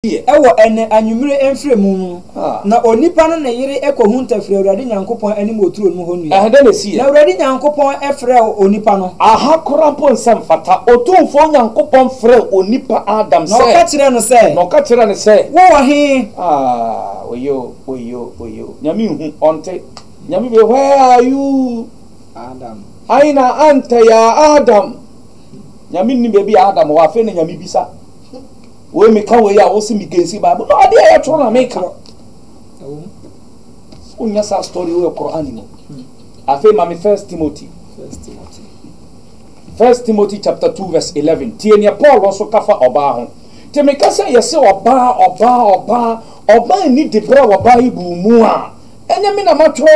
pii wɔ ɛnnɛ anwummere mfrɛmu mu no, na onipa ne ne yere kohu ntafiri Awurade Nyankopɔn anim wɔ turo no mu hɔ nnua. Ɛhe na esi yɛ? Na Awurade Nyankopɔn frɛɛ onipa no. Aha koraa mpo nsɛ mfata. Otumfoɔ Nyankopɔn frɛɛ onipa Adam sɛ. Na ɔka kyerɛɛ no sɛ. Na ɔka kyerɛɛ no sɛ. Wo wɔ he? Aah, wayoo, wayoo, wayoo. Nyame nhu, ɔnte. Nyame be, Where are you? Adam. Aina anta ya Adam? Nyame nnim baabi a Adam wɔ. Afei na Nyame bisa. Woi me ka woi a wo se me gensi bible no adeɛ a yɛatwerɛ na me ka wo nya saa story wo yɛ Qur'an mu hmm. afei ma me first Timothy first Timothy first Timothy chapter 2 verse 11 tie neɛ Paul nso ka fa ɔbaa ho te me ka sɛ yɛse ɔbaa ɔbaa ɔbaa ɔbaa ni de berɛ a wɔbaa yi bu mu a ɛnyɛ me na matwerɛ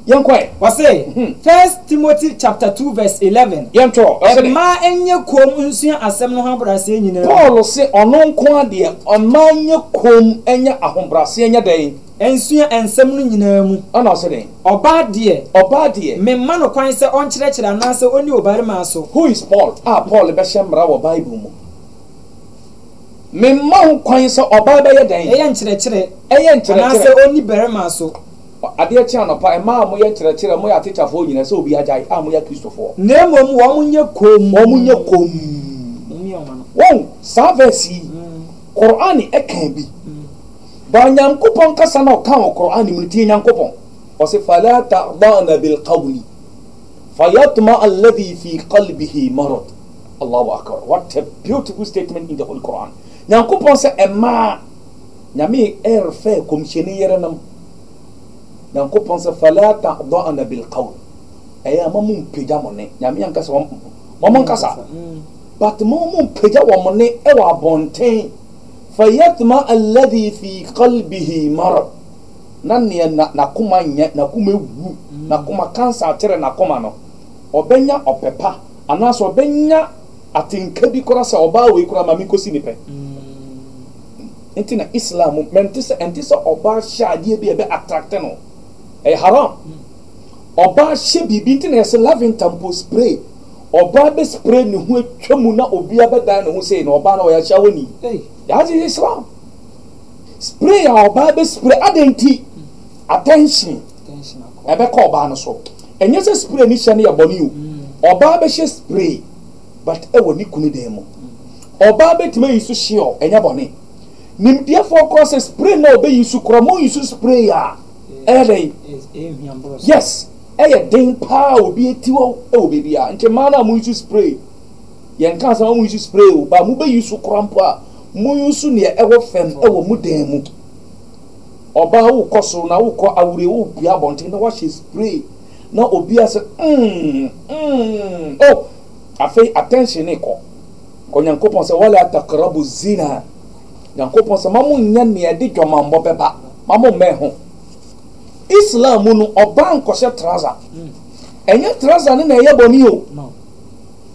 Yɛnkɔ ɛ. Ɔse, First Timothy chapter two verse eleven, Yɛnto ɔ, ɔse dɛ. Mmaa nyɛ komm nsua asɛm no ho ahobrɛaseɛ nyinaa mu. Paul se ɔno nko ara deɛ, mmaa nyɛ komm nyɛ ahobrɛaseɛ nyɛ dɛn? Nsua nsɛm no nyinaa mu. Ɛna ɔse dɛn? Ɔbaa deɛ. Ɔbaa deɛ. Memma no kwan sɛ ɔnkyerɛkyerɛ anaasɛ ɔnni ɔbarimaa so. Who is Paul a Paul bɛhyɛ mmara wɔ Bible mu? Memma ho kwan sɛ ɔbaa bɛyɛ dɛn? Ɛyɛ nkyerɛkyerɛ. Ɛyɛ nkyerɛkyerɛ. Anaasɛ ɔnni barimaa so. Adeɛ kye anɔpa, mmaa a moyɛ nkyerɛkyerɛ, moyɛ atekyafoɔ nyina, sɛ obi agyae, a moyɛ Akristofoɔ. Na mmom wɔn nyɛ komm. Wɔn nyɛ komm. Wahu, saa verse yi, Qur'aan ɛkaa bi. But Nyankopɔn kasa no a ɔkaa wɔ Qur'aan mu no, tie Nyankopɔn, ɔse, Falaa tahda'na bilqawli, fayatma'a alladhi fi qalbihi marad. Allahu Akbar, what a beautiful statement in the Holy Qur'aan. Nyankopɔn sɛ, mmaa. Nyame refrɛ Kɔmhyɛni yerenom, Nyankopɔn sɛ, Fala tahdɔɔna bil qawl, ɛyɛ a ma mo mpagya mo nne, Nyame anka sɛ ma mo nkasa, but ma mo mpagya wɔn nne wɔ abɔnten, fa yatma alladhi fi qalbihi marad, na nea n'akoma nyɛ, n'akoma awu, n'akoma, cancer akyere n'akoma no, ɔbɛnya ɔpɛ pa, anaasɛ ɔbɛnya Atenka bi koraa sɛ ɔbaa wei koraa ma menkosi ne pɛ nti na Islam mu mente sɛ ɛnte sɛ ɔbaa hyɛ adeɛ bi a ɛbɛ attract no ɛyɛ haram ɔbaa hyɛ biribi nti na yɛsɛ laventa mpo spray ɔbaa bɛ spray ne ho atwa mu na obia bɛdan ne ho sei na ɔbaa na ɔyɛ ahyɛ awɔ ni that is Islam spray a ɔbaa bɛ spray adɛn nti attention ɛbɛkɔ ɔbaa no so ɛnyɛ sɛ spray ne hyɛ no yɛ bɔne o ɔbaa bɛhyɛ spray But wɔ ne kunu dan mu. Ɔbaa bɛtumi ayi so Sheol, ɛnyɛ bɔne. Nimdeɛfoɔ korɔ sɛ spray no a ɔbɛyi so korɔ mo use spray a, ɛyɛ dɛn? Yes, ɛyɛ den paa a obi ati hɔ wɔ baabi a, nti mmaa no a mo use spray, yɛnkaa sɛ ma mo use spray o, but mo bɛ use korɔ mpo a, mo use neɛ ɛwɔ fam wɔ mo dan mu. Ɔbaa wo kɔ so na wo kɔ awurie wo pue abɔnten na wahyɛ spray. na obi ase mm mm oh afei attention ne kɔ kɔ nyankopɔn sɛ wala takrabu zina nyankopɔn sɛ ma mo nyɛ nea ɛde dwamammɔ bɛba ma mo mmɛn ho islam mu no ɔbaa nkɔhyɛ traza ɛnyɛ traza ne na ɛyɛ bɔne o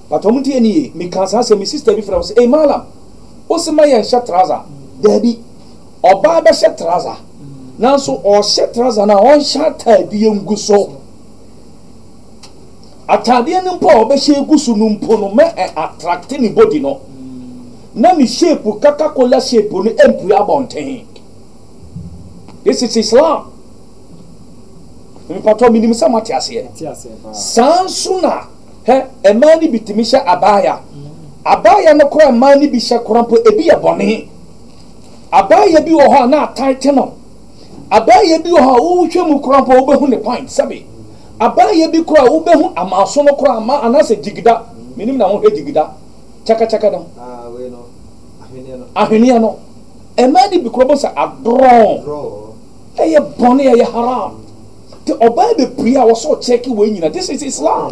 but ɔmo tie ne ye meka saa sɛ me sister bi frɛ wo sɛ ei malam wo se ma yɛnhyɛ traza daabi Ɔbaa bɛhyɛ traza, nanso ɔrehyɛ traza no a, ɔnhyɛ ataadeɛ ngu so. Ataadeɛ no mpo a ɔbɛhyɛ agu so no mpo no, ma ɛ attracte ne body no, na ne shape, Coca-Cola shape no mpue abɔnten. This is Islam. Mpatɔ, menim sɛ moate aseɛ. Saa nso na, hɛ, mmaa no bi tumi hyɛ abaya. Abaya no koraa a mmaa no bi hyɛ koraa mpo, ebi yɛ bɔne. Abaayewa bi wɔ hɔ a na atan te no. Abaayewa bi wɔ hɔ a wohwɛ mu koraa mpo a wubehu ne point, sɛbe. Abaayewa bi koraa a wubehu amaaso no koraa ma anaasɛ gyigida, minim na wohwɛ gyigida, kyakakyaka no, ahweneɛ no. Mmaa no bi koraa wobɛhu sɛ adorɔɔ, ɛyɛ bɔne, ɛyɛ haram. Nti ɔbaa bepue a wɔsɛ ɔkyɛke wei nyina. This is Islam.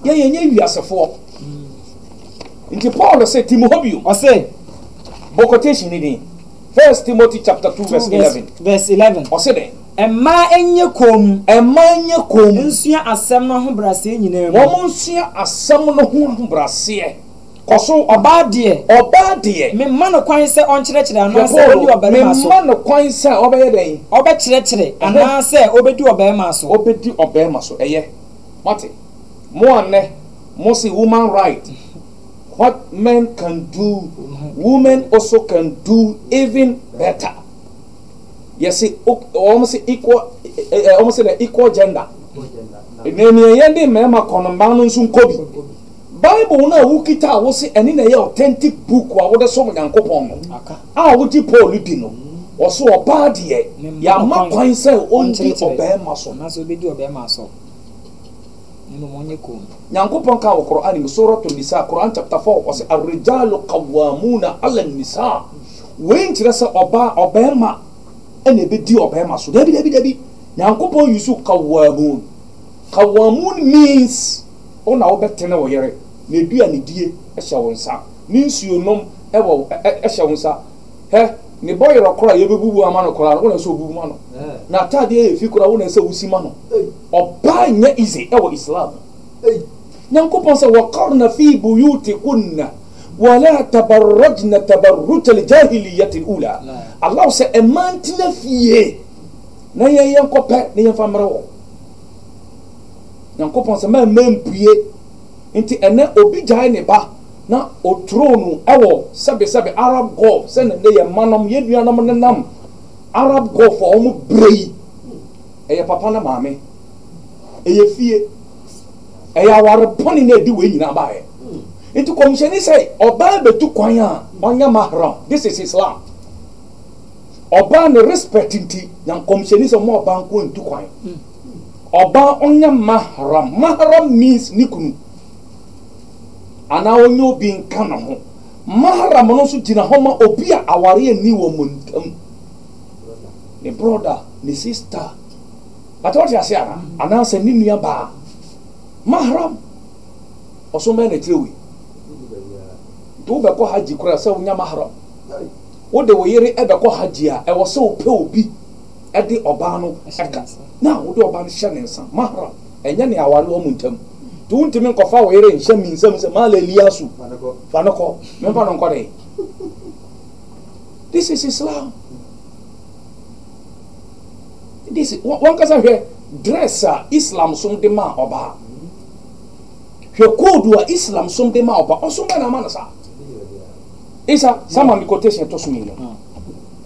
Yɛn yɛnyɛ wiasefoɔ. Ntsi Paul see Tim hɔ bio, ɔsee, Bɔ quotation no dzin, First Timothy chapter two verse eleven. verse eleven. Ɔse dɛn? Mma enye komm. Mma enye komm. Nsua asɛm no ahobrɛaseɛ nyinaa mu. Wɔn nsua asɛm no ho ahobrɛaseɛ. Kɔ so. Ɔbaa deɛ. Ɔbaa deɛ. Memma no kwan sɛ ɔnkyerɛkyerɛ anaasɛ ɔnni ɔbarima so. Memma no kwan sɛ ɔbɛyɛ dɛn? Ɔbɛkyerɛkyerɛ, anaasɛ ɔbɛdi ɔbarima so. Ɔbɛdi ɔbarima so, ɛyɛ. Moate? Mo a nnɛ mo se woman right what men can do women also can do even better yɛse wɔn se equal wɔn se dɛ equal gender na nea yɛde mmarima kɔ no mmaa no nso nkɔ bi bible no a wokita a wose ɛne na ɛyɛ authentic book a wode som nyankopɔn no a wogye paul di no ɔso ɔbaa deɛ yɛama kwan sɛ ɔndi ɔbarima so Nyankopɔn kaa wɔ Qur'aan mu, Surat An-Nisaa, Qur'aan chapter 4, ɔse, Ar-Rijaalu Qawwaamuuna 'Ala An-Nisaa, wei nkyerɛ sɛ ɔbaa, ɔbarima na ɛbɛdi ɔbarima so, dabi, dabi, dabi, Nyankopɔn usuu Qawwaamuun, Qawwaamuun means, wo na wobɛtene wo yere, n'aduanedie hyɛ wo nsa, ne nsuo nom hyɛ wo nsa, Hɛ, ne bɔ yerɔ koraa a yɛbɛbubu ama no koraa no, wo na ɛsɛ sɛ wobubu ma no. N'atadeɛ yɛ fi koraa a, wo na ɛsɛ sɛ wosi ma no. Ɔbaa nyɛ ize wɔ Islam mu. Nyankopɔn sɛ, Waqarna fi buyutikunna wala tabarrajna tabarruj aljahiliyyati alula. Allah sɛ, Mmaa ntena fie na yɛn yɛnkɔpɛ na yɛmfa mmrɛ wɔn. Nyankopɔn sɛ, Mmaa mma mpue Nti ɛnnɛ obi gyae ne ba na ɔturo no wɔ sɛbesɛbe Arab Gulf sɛdeɛ nnɛ yɛn mma nom, yɛn nuanom nenam Arab Gulf a wɔn brɛ yi. Ɛyɛ papa ne maame, ɛyɛ fie, ɛyɛ aware bɔne na ɛde wei nyinaa baeɛ. Nti kɔmhyɛni sɛ ɔbaa bɛtu kwan a ɔnyɛ mahram, this is Islam. Ɔbaa ne respect nti, Nyan kɔmhyɛni sɛ mma ɔbaa nkoa ntu kwan. Ɔbaa ɔnyɛ mahram. Mahram means ne kunu anaa ɔnyɛ obi nka ne ho. Mahram no nso gyina hɔ ma obi a awareɛ nni wɔn ntam. Ne brɔda, ne sista, bata wote aseɛ anaa? Anaasɛ ne nua baa. Mahram, ɔsom bɛn na ɛkyerɛ wei? Nti wobɛkɔ hajji koraa sɛ wonya mahram? Wode wo yere bɛkɔ hajji a, ɛwɔ sɛ wopɛ obi. de ɔbaa no ka, na wode ɔbaa no hyɛ ne nsa, mahram, ɛnyɛ nea aware wɔ mo ntam. Nti wontumi nkɔfa wo yere nhyɛ me nsam sɛ maala Eliasu, fa no kɔ, memfa no nkɔ dɛn? This is Islam. This, wankasa hwɛ dress a Islam som de maa ɔbaa. Hwɛ code a Islam som de maa ɔbaa. Ɔsom bɛ na ama no saa. Isa, sama me quotation ɛtɔ so mmienu.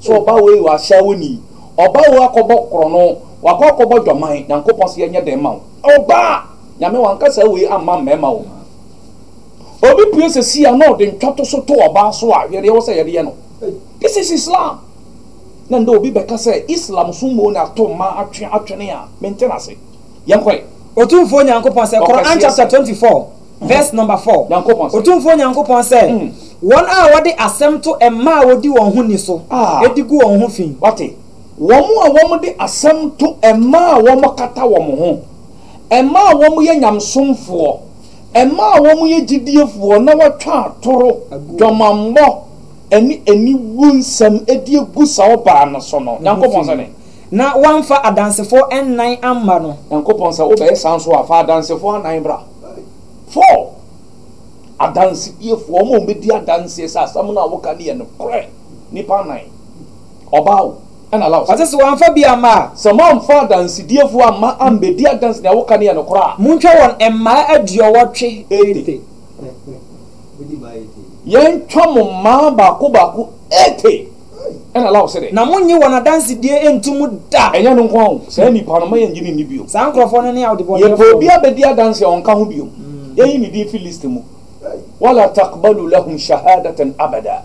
So ɔbaa wei yɛ ɔahyɛawonyi? Ɔbaa wei akɔbɔ krɔno, ɔakɔ akɔbɔ dwaman, Nyankopɔn se yɛnyɛ dɛn mma wo? Ɔbaa! Nyame ɔannkasa wei amma mmarima o. Obi pue sesei a na ɔde ntwatoso to ɔbaa so a, hwɛ deɛ ɛwɔ sɛ yɛde yɛ no. This is Islam! Na ndɛ obi bɛka sɛ Islam so mmom na ato mmaa atwe atwene a, mente no ase. Yɛnkɔ ɛ. Otumfoɔ Nyankopɔn sɛ, Qur'aan chapter twenty four. Verse number four, Nyankopɔn se. Otumfoɔ Nyankopɔn sɛ, Wɔn a wɔde asɛm to mmaa a wɔdi wɔn ho ni so, de gu wɔn ho fi. Wate? Wɔn a wɔde asɛm to mmaa a wɔkata wɔn ho, mmaa a wɔyɛ nyamesomfoɔ, mmaa a wɔyɛ gyidiefoɔ na wɔatwa atoro, dwamanbɔ, ne aniwu nsɛm de agu saa ɔbaa no so no, Nyankopɔn se dɛn? Na wɔamfa adansefoɔ nnan amma no. Nyankopɔn sɛ, Wobɛyɛ saa nso a, fa adansefoɔ anan bra. Four, Adansediefo, wɔn a wɔbedi adanse sɛ asɛm no a woka no yɛ nokorɛ, nnipa anan, ɔbaa o, ɛna la o. Ɔse sɛ wɔamfa bi amma a. Sɛ moamfa adansediefo amma ammedi adanse nea woka no yɛ nokorɛ a. Montwa wɔn mmaa aduɔwɔtwe. Ete. Yɛntwa mo mmaa baako baako, ete. Ɛna Law se dɛ. Na monnye wɔn adansedie nnto mu da. Ɛnyɛ ɛno nko ara o, saa nnipa no, mma yɛnnye no nni bio. Saa nkurɔfoɔ no ne aɔdebɔneyɛfoɔ no. Yɛpɛ obi abɛdi adanse a ɔnka ho bio, yɛnyi ne din firi list mu. Wala takbalu lahum shahadatan abada.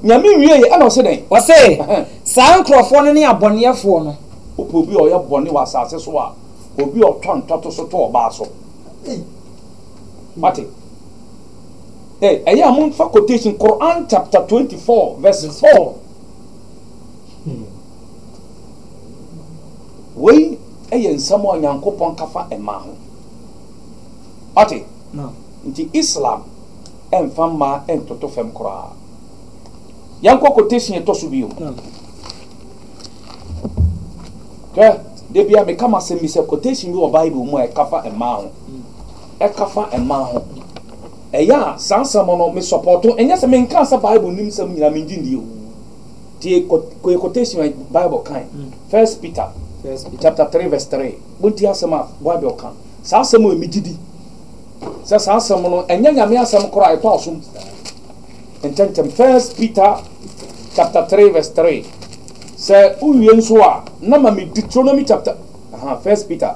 Nyame nwiee, ɛna ɔse dɛn? Ɔse, Saa nkurɔfoɔ no ne abɔneɛfoɔ no. Wopɛ obi a ɔyɛ bɔne wɔ asase so a, obi a ɔtwa ntɔtoso to ɔbaa so. Wate? Eh, ɛyɛ a momfa quotation Quran chapter 24 verse 4. Hmm. Wei ɛyɛ nsɛm a Nyankopɔn ka fa mmaa ho. Ɔte? No. Nti Islam ɛmfa mmaa ɛntoto fam koraa. Yɛnkɔ quotation ɛtɔ so bio. No. Hwɛ, da bia meka m'asɛm bi sɛ quotation bi wɔ Bible mu a ɛka fa mmaa ho. Mm. ɛka fa mmaa ho. Ɛyɛ a saa nsɛm no me sɔpɔɔto. Ɛnyɛ sɛ menkaa sɛ Bible nnim nsɛm nyinaa, mengye nni oo. Tie quotation a Bible kae, First Peter chapter three verse three. Montie asɛm a Bible ka. Saa asɛm wei megye di sɛ saa asɛm no ɛnyɛ Nyame asɛm koraa, ɛtɔ asom ntɛmntɛm. First Peter chapter three verse three. Sɛ wowie nso a, na ma me Deuteronomy chapter, aha, First Peter.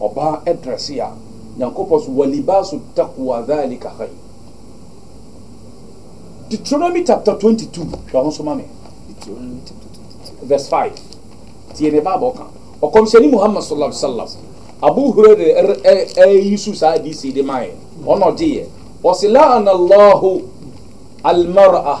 Ɔbaa ɛdrɛse a Nyankopɔn so walibaasu taqwa dhalika khayr Deuteronomy chapter 22 hwɛ ho so ma me Deuteronomy chapter 22 verse 5 tie ne Bible ka Ɔkɔmhyɛni Muhammad sallallahu alaihi wasallam Abu Hurairah ɛyi su saa DC de mae ɔna ɔgyeeɛ ɔse la'ana Allahu al-mar'ah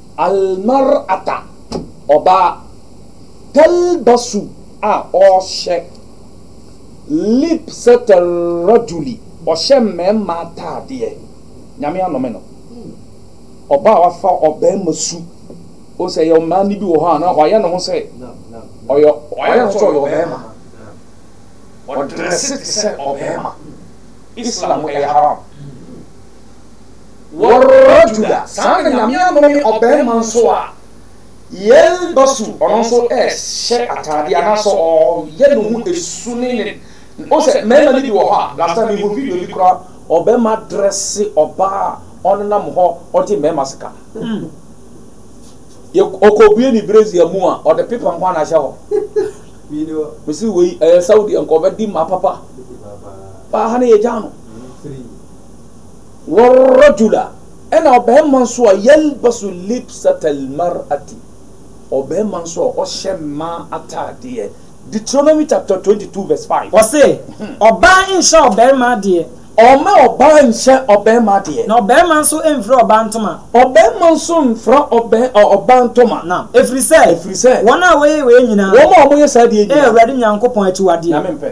Al-mar'ata, ɔbaa, talbasu, a ɔhyɛ, libsat al-rajuli, ɔhyɛ mmarima ataadeɛ, Nyame anome no, ɔbaa a wafa ɔbarima su, wohu sɛ ɛyɛ ɔmaa no bi wɔ hɔ a na wayɛ ne ho sɛ ɔyɛ wayɛ ne ho sɛ ɔyɛ ɔbarima, ɔdrɛse te sɛ ɔbarima, Islam ɛyɛ haram. Wɔrɔrɔjuda, saa na Nyame anome ɔbarima nso a yɛlbasu, ɔno nso rehyɛ ataade anaasɛ ɔyɛ ne ho esu ne ne, wohu sɛ mmarima no bi wɔ hɔ a, last time mehuu video bi koraa, ɔbarima adrɛse ɔbaa a ɔnenam hɔ ɔgye mmarima sika. Yɛ, ɔkɔbue ne brazier mu a, ɔde pepa nko ara na ahyɛ hɔ. Mese wei, ɛyɛ Saudi nka ɔbɛdi mmaa papa. Paa ha no yɛgyaa no. Warrajula, ɛna ɔbarima nso a yalbasu libsatal mar'ati, ɔbarima nso a ɔhyɛ mmaa ataadeɛ. Deuteronomy chapter twenty two verse five. Ɔse, Ɔbaa nhyɛ ɔbarima adeɛ. Ɔmma ɔbaa nhyɛ ɔbarima adeɛ. Na ɔbarima nso mfira ɔbaa ntoma. Ɔbarima nso mfira ɔbaa ntoma. Nam, ɛfiri sɛ. Ɛfiri sɛ. Wɔn a wɔyɛ wei nyinaa. Wɔn a wɔyɛ saa deɛ nyinaa. Yɛ Awurade Nyankopɔn akyiwadeɛ. Nyame mpɛ.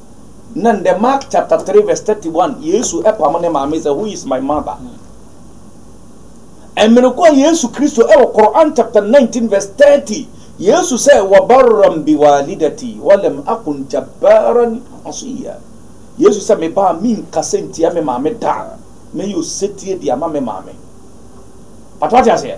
Na ndɛ Mark chapter three verse thirty one Yesu pam ne maame dze who is my mother. Mber kor a Yesu Kristo wɔ Quran chapter nineteen verse thirty Yesu sɛ wa barran bi walidati wa lam akun jabbaran asiyya Yesu sɛ me baa mennkasa nntia me maame da, mɛyɛ osetsie de ama me maame. But wate aseɛ?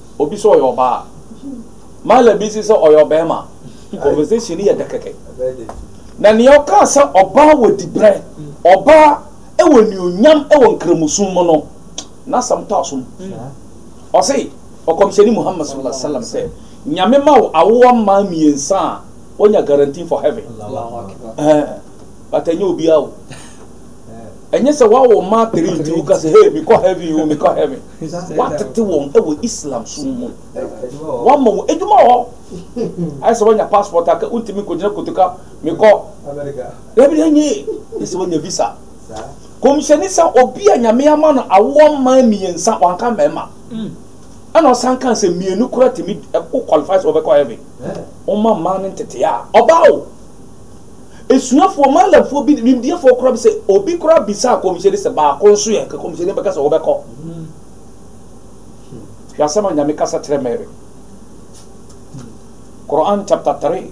Obi sɛ ɔyɛ ɔbaa a, Mahler bi si sɛ ɔyɛ ɔbarima a, conversation no yɛ dɛ kɛkɛ. Na nea ɔkaa sɛ ɔbaa wɔ dibrɛ, ɔbaa wɔ anuonyam wɔ Nkramosom mu no, n'asɛm tɔ asom. Ɔse, Ɔkɔmhyɛni Muhammad sallallahu alaihi wasallam sɛ, Nyame ma wo awoɔ mmaa mmiɛnsa a, woanya guarantee for heaven. Ɛɛ, but ɛnyɛ obiara o. Ɛnyɛ sɛ woawo mmaa three nti woka sɛ, hey, mekɔ heaven o, mekɔ heaven. Wɔatete wɔn wɔ Islam som mu. Wɔama wɔn adwuma wɔ hɔ. Ayɛ sɛ woanya passport a ka wontumi nkɔgyina kotoka mekɔ. Dabi ɛnyɛ ye. Ayɛ sɛ woanya visa. Kɔmhyɛni sɛ obi a Nyame ama no awoɔ mmaa mmiɛnsa, wanka mmarima. Ɛna ɔsan kaa sɛ mmienu koraa tumi, wo qualify sɛ wobɛkɔ heaven. Momma mmaa no nteteɛ a, ɔbaa o. Asuafoɔ, Malamfoɔ bi, nimdeɛfoɔ koraa bi sɛ obi koraa bisaa Kɔmhyɛni sɛ baako nso yɛ, nka Kɔmhyɛni bɛka sɛ wobɛkɔ. Hwɛ asɛm a Nyame kasa kyerɛ Mary. Qur'an chapter 3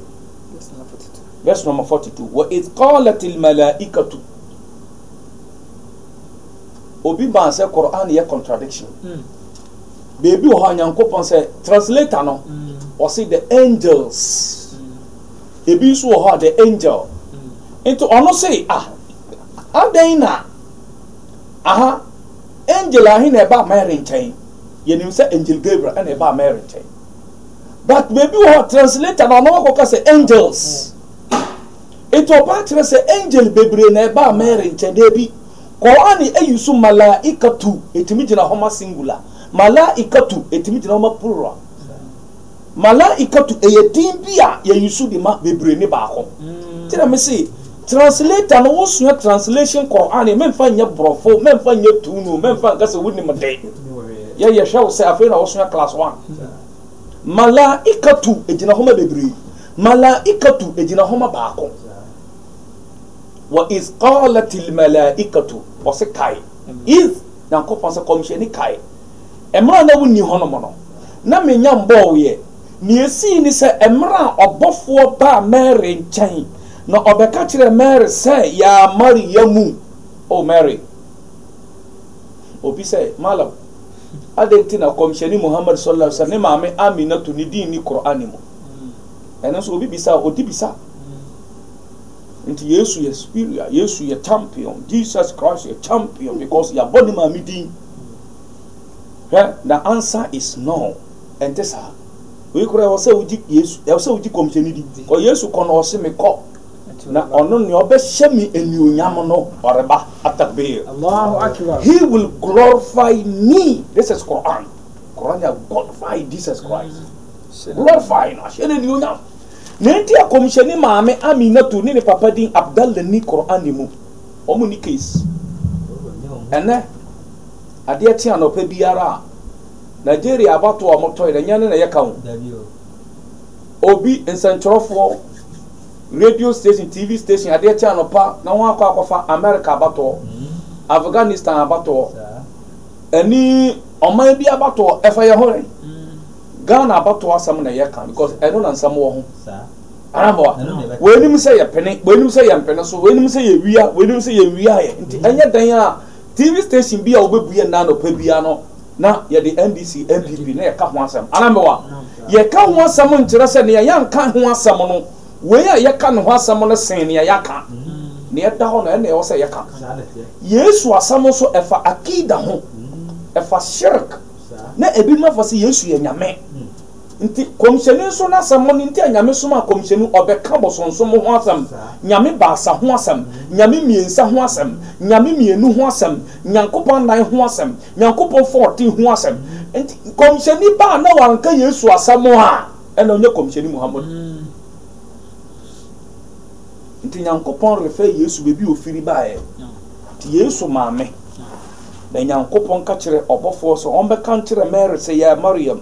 verse number 42. Wa idh qalat al-malaikatu obi baa sɛ Quran yɛ contradiction hmm. baabi wɔ hɔ a nyankopɔn sɛ translator no hmm. ɔse the angels hmm. Ebi nso wɔ hɔ a the angel. Nti ɔno se ah adɛn na aha angel ahe na ɛbaa Mary nkyɛn? Yɛnim sɛ angel Gabriel ɛna ɛbaa Mary nkyɛn. But baabi wɔ hɔ translator na ɔno akɔka sɛ angels. Nti ɔbaa kyerɛ sɛ angel bebree na ɛbaa Mary nkyɛn daabi. Quran ayi so malaikatu ɛtumi gyina hɔ ma singular. Malaikatu ɛtumi gyina hɔ ma plural. Malaikatu yɛ din bi a yɛuse de ma bebree ne baako. Nti na me se translator no wo sua translation Qur'an me mfa nyɛ borɔfo, me mfa nyɛ tun o, me mfa nka sɛ wo nim de. Yɛ yɛ hwɛ wo sɛ afei na wo sua class one. Malaikatu egyina hɔ ma bebree. Malaikatu egyina hɔ ma baako. Wa iz qalatil malaikatu ɔse kae. Iz Nyankopɔn sɛ kɔmhyɛni kae. Mmerɛ a na wonni hɔnom no, na mennya mbɔɔeɛ. Deɛ ɛsii ne sɛ, mmerɛ a ɔbɔfoɔ baa Mary nkyɛn, na ɔbɛka kyerɛɛ Mary sɛ, Yaa Maria mu, O Mary. Obi sɛ, Malam, adɛn nti na Kɔmhyɛni Muhammad sɔl Allah sɛ ne maame Aminatu ne din nni Qur'an mu? Ɛno nso obi bisa a, ɔdi bisa. Nti Yesu yɛ superior, Yesu yɛ champion, Jesus Christ yɛ champion because yɛabɔ ne maame din. Hwɛ, the answer is no, ɛnte saa. Wei koraa ɛwɔ sɛ wogye Yesu, ɛwɔ sɛ wogye kɔmhyɛni di. Kɔ Yesu kɔ na ɔse me kɔ, na ɔno nea ɔbɛhyɛ me anuonyam no ɔreba. Atakbir. He will glorify me. This is Quran. Quran ya glorify Jesus Christ. Mm. Glorify no, ahyɛ no anuonyam. Na enti akɔmhyɛni maame Aminatu ne ne papa din Abdallah ni Quran mu. Wɔn nni case. Ɛnnɛ, adeɛ kye anɔpa biara a, Nigeria abatoɔ a wɔtɔ yɛ no, ɛnyɛ ɛno na ɛyɛ ka ho. Obi, nsɛntwerɛfoɔ, radio station, TV station, adeɛ kye anɔpa na wɔn akɔ akɔfa America abatoɔ, Afghanistan abatoɔ, ɛne ɔman bi abatoɔ, ɛfa yɛn ho yɛn. Ghana abatoɔ asɛm na ɛyɛ ka because ɛno na nsɛm wɔ ho. Mmoa. Wei nim sɛ yɛ pene, wei nim sɛ yɛ mpene so, wei nim sɛ yɛ wia, wei nim sɛ yɛ nwia yɛ. Nti mm. ɛnyɛ dan a TV station bi a wobɛbue nna anɔpa bia no na yɛde NDC, NPP na yɛka ho asɛm. Anambewa, yɛka ho asɛm nkyerɛ sɛ nea yɛnka ho asɛm no, wei a yɛka ne ho asɛm no sen nea yɛaka. Mm. Nea ɛda hɔ no ɛna ɛwɔ sɛ yɛka. Yesu asɛm nso ɛfa akida ho, mm. ɛfa shirk, na ebi ma fa sɛ Yesu yɛ nyame. Nti komhyɛni nso n'asɛm mo no nti a Nyame somaa komhyɛni ɔbɛka bosonsom ho asɛm, Nyame baasa ho asɛm, Nyame miensa ho asɛm, Nyame mienu ho asɛm, Nyankopɔn nan ho asɛm, Nyankopɔn fourteen ho asɛm. Nti komhyɛni ba a na wanka Yesu asɛm a ɛna ɔnyɛ komhyɛni Muhammadu. Nti Nyankopɔn refer Yesu baabi a ofiri baeɛ. Nti Yesu maame na Nyankopɔn ka kyerɛ ɔbɔfoɔ sɛ ɔmbɛka nkyerɛ Mary sɛ, Yaa Mariam,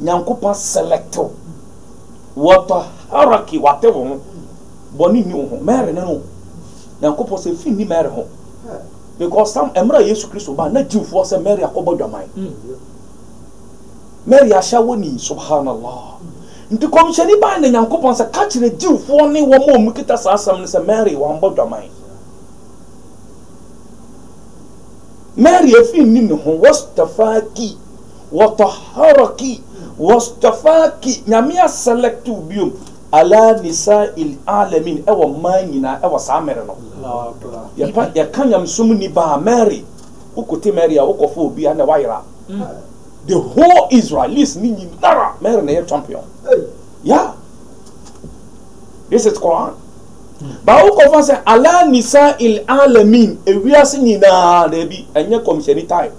Nyankopɔn select wo. Wɔtɔ hierarchy wate wo ho. Bɔne nni wo ho. Mary ne no. Nyankopɔn sɛ fi nni Mary ho. Because some ɛmmerɛ Yesu Kristo ba na Jewfoɔ sɛ Mary akɔbɔ dwaman. Mary ahyɛ wɔ ni subhanallah. Nti kɔmhyɛni baa na Nyankopɔn sɛ ka kyerɛ Jewfoɔ ne wɔn a wɔn kita saa asɛm no sɛ Mary wambɔ dwaman. Mary afi nni ne ho wastafaki. Wɔtɔhɔrɔki, wɔstɔfaaki, Nyame asɛlɛkte wo biom ala nisaa'il aalamiin, ɛwɔ mmaa nyinaa ɛwɔ saa mmere no. Yɛpa, yɛka Nyamesom nni ba a, Mary, wo kote Mary a, wo kɔfa obi a, ɛnna wayera. The whole Israelis ne nyinara, Mary na ɛyɛ champion. Yeah. This is Quran. Ba wo kɔfa sɛ ala nisaa'il aalamiin, ewiase nyinaa, daabi, ɛnyɛ kɔmhyɛni type.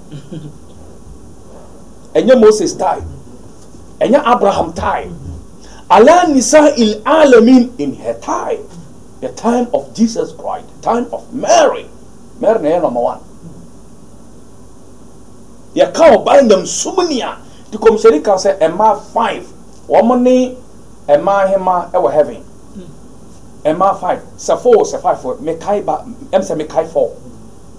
Ɛnyɛ Moses time. Ɛnyɛ Abraham time. Ala nisa il alamin in her time. The time of Jesus Christ. The time of Mary. Mary na ɛyɛ number one. Yɛka ɔbaa nyamsum ni a, ti kɔmhyɛni ka sɛ ɛmaa five. Wɔn ne ɛmaa hema ɛwɔ heaven. Ɛmaa five. Sɛ four sɛ five. Mekae ba, ɛm sɛ mekae four.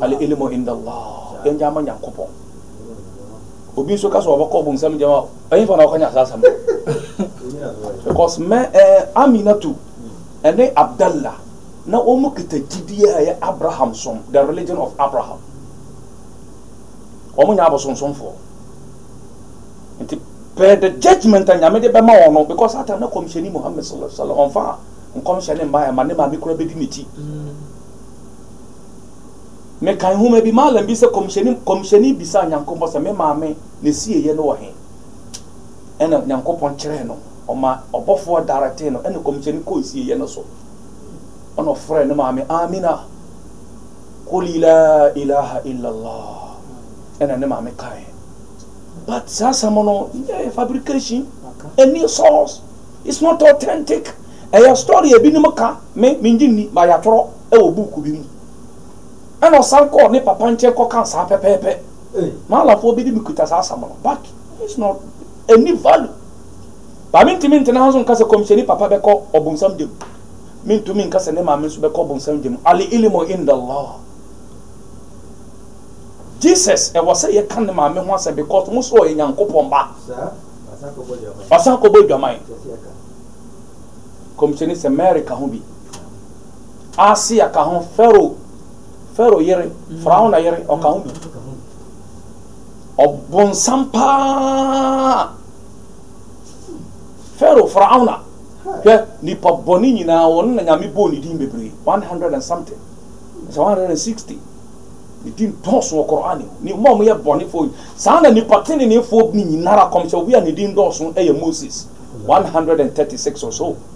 Al ilmu inda Allah, yɛngye ama Nyankopɔn. Obi nso ka sɛ ɔbɛkɔ bonsam gyam a, ɛhefa na ɔkɔnya saa asɛm no? Because mɛ ɛɛ eh, Aminatu ɛne Abdallah na wɔn kita gyidie a ɛyɛ Abraham som, the religion of Abraham. Wɔn nyɛ abosonsomfoɔ. Nti pɛ the judgment a Nyame de bɛma wɔn no, because ata na kɔmhyɛni Muhammad sallallahu alaihi wasallam ɔmfa nkɔmhyɛ ne mmaeɛ ma ne maame kura bɛdi n'akyi. Mekan nhoma bi, Malam bi sɛ kɔmhyɛni kɔmhyɛni bisaa Nyankopɔn sɛ me maame ne sieyɛ no wɔ he? Ɛna Nyankopɔn kyerɛɛ no, ɔma ɔbɔfoɔ daretee no ɛna kɔmhyɛni kɔɔ sieyɛ no so. Ɛna ɔfrɛɛ ne maame, Amina, kuli la ilaha illallah. Ɛna ne maame kae. But saa asɛm no, nyɛ yɛ fabrication, ɛni source, it's not authentic. Ɛyɛ story a ebinom ka, me, mengye nni, but yɛatwerɛ. wɔ buuku bi mu. Ɛnna ɔsan kɔɔ ne papa nkyɛn kɔkaa saa pɛpɛɛpɛ. Maalamfoɔ bi de me kuta saa asɛm no, but it's not ɛnni value. Ba mentumi ntena ha nso nka sɛ kɔmhyɛni papa bɛkɔ ɔbonsam gya mu. Mentumi nka sɛ ne maame nso bɛkɔ ɔbonsam gya mu. Al-ilmu inda Allah. Jesus, ɛwɔ sɛ yɛka ne maame ho asɛm because mo soro ɔyɛ Nyankopɔn ba. Wasan kɔbɔ adwaman. Kɔmhyɛni sɛ Mary ka ho bi. Asia ka ho, Farao, Farao yere, Faraona yere, ɔka ho bi. Ɔbonsam paa. Farao, Faraona, hwɛ, nipa bɔne nyinaa, wɔn na Nyame bɔɔ ne din bebree, 100 and something, ɛsɛ 160. Ne din dɔɔso wɔ Qur'an mu. Ne mma wɔyɛ bɔnefoɔ yi. Saa na nipa teneneefoɔ ne nyinara kɔmhyɛ obi a ne din dɔɔso yɛ Moses, 136 or so.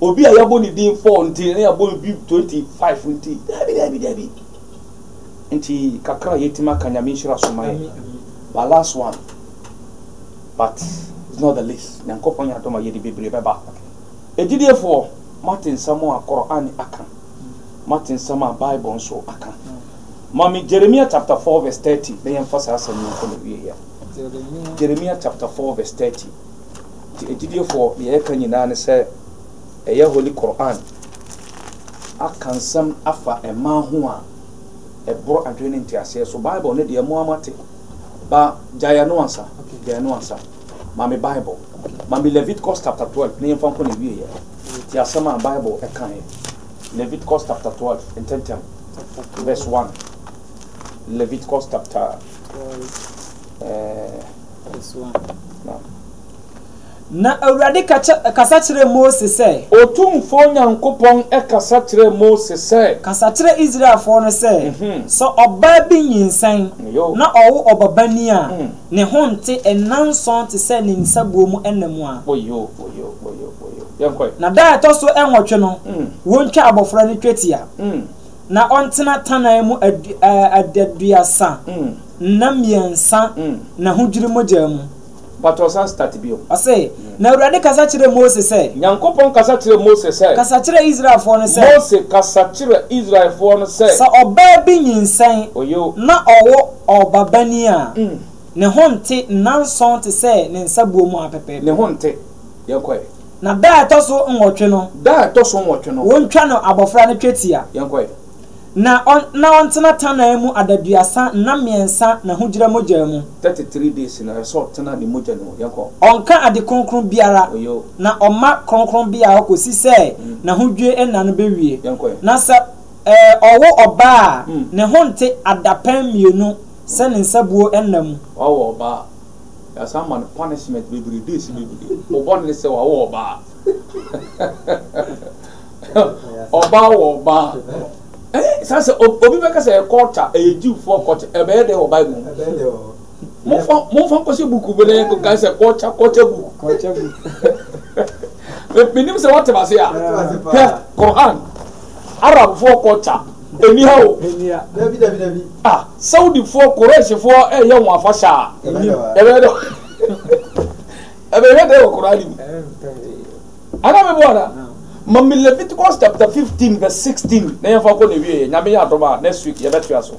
Obi a yɛabɔ ne din four nti, na yɛabɔ obi twenty five nti. Daabi, daabi, daabi. Nti kakra a yɛatumi aka Nyame nhyira so ma yɛ. But last one, but it's not the least, Nyankopɔn yɛ adom a yɛde bebree bɛba. Agyidiefoɔ, moate nsɛm a Qur'aan aka, moate nsɛm a Bible nso aka. Ma me Jeremia chapter four verse thirty na yɛmfa saa asɛm yi nkɔ n'awieeɛ. Jeremia chapter four verse thirty. Nti agyidiefoɔ deɛ yɛka nyinaa ne sɛ ɛyɛ Holy Qur'aan aka nsɛm afa mmaa ho a ɛboro adwene ne nteaseɛ so. Bible no deɛ moa moate ba gyae ɛno ansa, gyae ɛno ansa. Ma me Bible, ma me Leviticus chapter 12 na yɛmfa nkɔ ne wieɛ. Ti asɛm a Bible ɛkaeɛ. Leviticus chapter 12 ntɛntɛm verse 1. Leviticus chapter uh, Na Awurade kasa kyerɛɛ Mose sɛ. Otumfoɔ Nyankopɔn kasa kyerɛɛ Mose sɛ. Kasa kyerɛ Israelfoɔ no sɛ, Sɛ ɔbaa bi nyinsɛn na ɔwo ɔbabanin a, ne ho nte nnanson te sɛ ne nsabuo mu nna mu a. Na da a ɛtɔ so nwɔtwe no, wɔntwa abɔfra no twetia. na ɔntena tannan mu adaduasa nna mmiɛnsa na ahodwiri mogya mu. But ɔsan start bio. Ɔse, Na Awurade kasa kyerɛɛ Mose sɛ. Nyankopɔn kasa kyerɛɛ Mose sɛ. Kasa kyerɛ Israelfoɔ no sɛ. Mose, kasa kyerɛ Israelfoɔ no sɛ. Sɛ ɔbaa bi nyinsɛn. Oye o. Na ɔwo ɔbabanin a. Ne ho nte nnanson te sɛ ne nsabuo mu ara pɛpɛɛpɛ. Ne ho nte. Yɛnkɔ ɛ. Na da a ɛtɔ so nwɔtwe no. Da a ɛtɔ so nwɔtwe no. Wontwa no abɔfra no twetia. Yɛnkɔ ɛ. Na ɔn, na ɔntena tannan mu adaduasa nna mmiɛnsa n'ahugyira mogyaa mu. Thirty three days na ɛsɛ ɔtena ne mogya no mu. Yɛnkɔ. Ɔnka ade kronkron biara. Oyo. Na ɔmma kronkronbea hɔ kɔsi sɛ n'ahodwie nna no bɛwie. Yɛnkɔ ɛ. Na sɛ ɛɛ ɔwo ɔbaa a, ne ho nte adapɛn mmienu sɛ ne nsabuo nna mu. Ɔwo ɔbaa a. Yɛasan ma no punishment bebree, days bebree. Wo bɔne ne sɛ wawo ɔbaa. Ɔbaa wɔ ɔbaa. Eh, saa sɛ obi bɛka sɛ culture, ɛyɛ Jewfoɔ culture, ɛbɛyɛ dɛ wɔ Bible mu. Momfa nkɔhyɛ buku bi na yɛnkɔka sɛ culture, culture book. Culture book. Menim sɛ woate m'ase a. Hwɛ, Quran, Arabfoɔ culture. Enni ha o. A Saudifoɔ, Quraishfoɔ reyɛ wɔn afahyɛ a, ɛbɛyɛ dɛ ɛbɛyɛ dɛ wɔ Qur'aan mu. Anaa meboa anaa? Ma me Leviticus chapter 15 verse 16 na yɛmfa kɔ na ɛwieɛ. Nyame yɛ adom a, next week yɛbɛtoa so.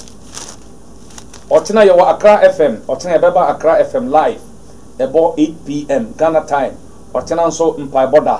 Ɔkyena yɛwɔ Accra FM, ɔkyena yɛbɛba Accra FM live, ɛbɔ 8 pm Ghana time, ɔkyena nso mpaebɔ da.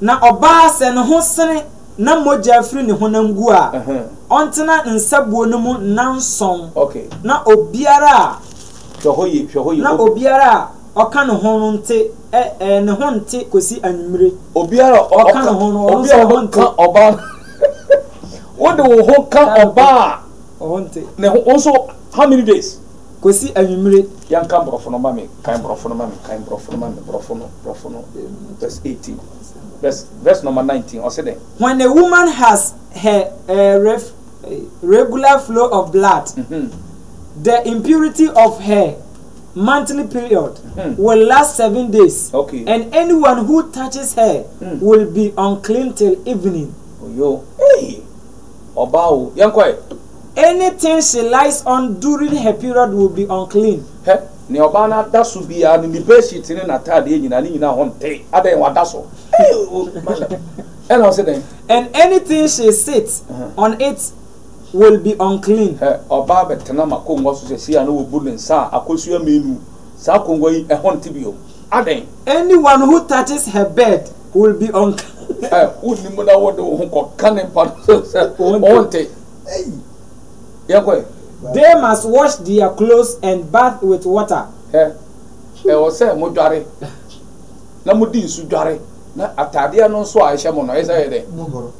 Na ɔbaa sɛ ne ho sene na mogya firi ne honam gu a, ɔntena nsabuo no mu nnanson, na obiara a na obiara a ɔka ne ho no nte, ɛ, ɛ, ne ho nte kɔsi anwummere. Obiara a ɔka ne ho no, ɔno nso ne ho nte. Ɔbaa no, wode wo ho ka ɔbaa a ne ho, wo nso, how many days? kɔsi anwummere. Yɛnka Borɔfo no ma me, kan Borɔfo no ma me, kan Borɔfo no ma me, Borɔfo no, Borɔfo no, verse eighteen, verse, verse number nineteen, ɔse dɛn? When a woman has her eh, ref, eh, regular flow of blood, mm-hmm. the impurity of her monthly period mm-hmm. will last seven days, okay. and anyone who touches her mm. will be unclean till evening. Oyo, hey, ọba o, yẹn kọ ẹ. Anything she lies on during her period will be unclean. Hwɛ, nea ɔbaa no ada so biara no, ne bedsheet ne n'ataadeɛ nyinaa, ne nyinaa ho nte. Adɛn, wada so? Ei, o, madam. Ɛnna ɔse dɛn? And anything she sits on it will be unclean. Hwɛ, ɔbaa bɛtena m'akongua so seesei a na wabu ne nsa a akosua mmienu, saa akongua yi, ɛho nte bio. Adɛn? Anyone who touches her bed will be unclean. Ɛ, wonni mu na wode wo ho kɔka ne mpa no so sɛ, Ɛho nte. They must wash their clothes and bath with water. Hɛ! Ɛwɔ sɛ modware, na mode nsu dware, na atadeɛ no nso a ɛhyɛ mo no, ɛyɛ sɛ ɛyɛ dɛ?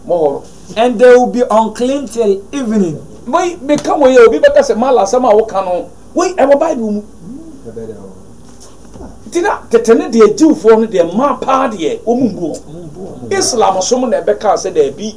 Mohoro. And they will be unclean till evening. Wei, meka wei a, obi bɛka sɛ, Mala, asɛm a woka no, wei, ɛwɔ Bible mu. Nti na tete no deɛ, Jewfoɔ no deɛ, mmaa paa deɛ, wɔmmu wɔn. Islamsom na ɛbɛkaa sɛ daabi.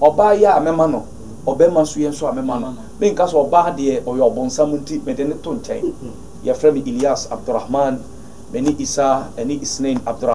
Ɔbaa yi a mɛma no, ɔbarima nso yi nso a mɛma no, menka sɛ ɔbaa deɛ ɔyɛ ɔbonsam nti mede no to nkyɛn. Wɔfrɛ me Ilyas Abdurahman, me ne Isa ɛne Isnain Abdurahman.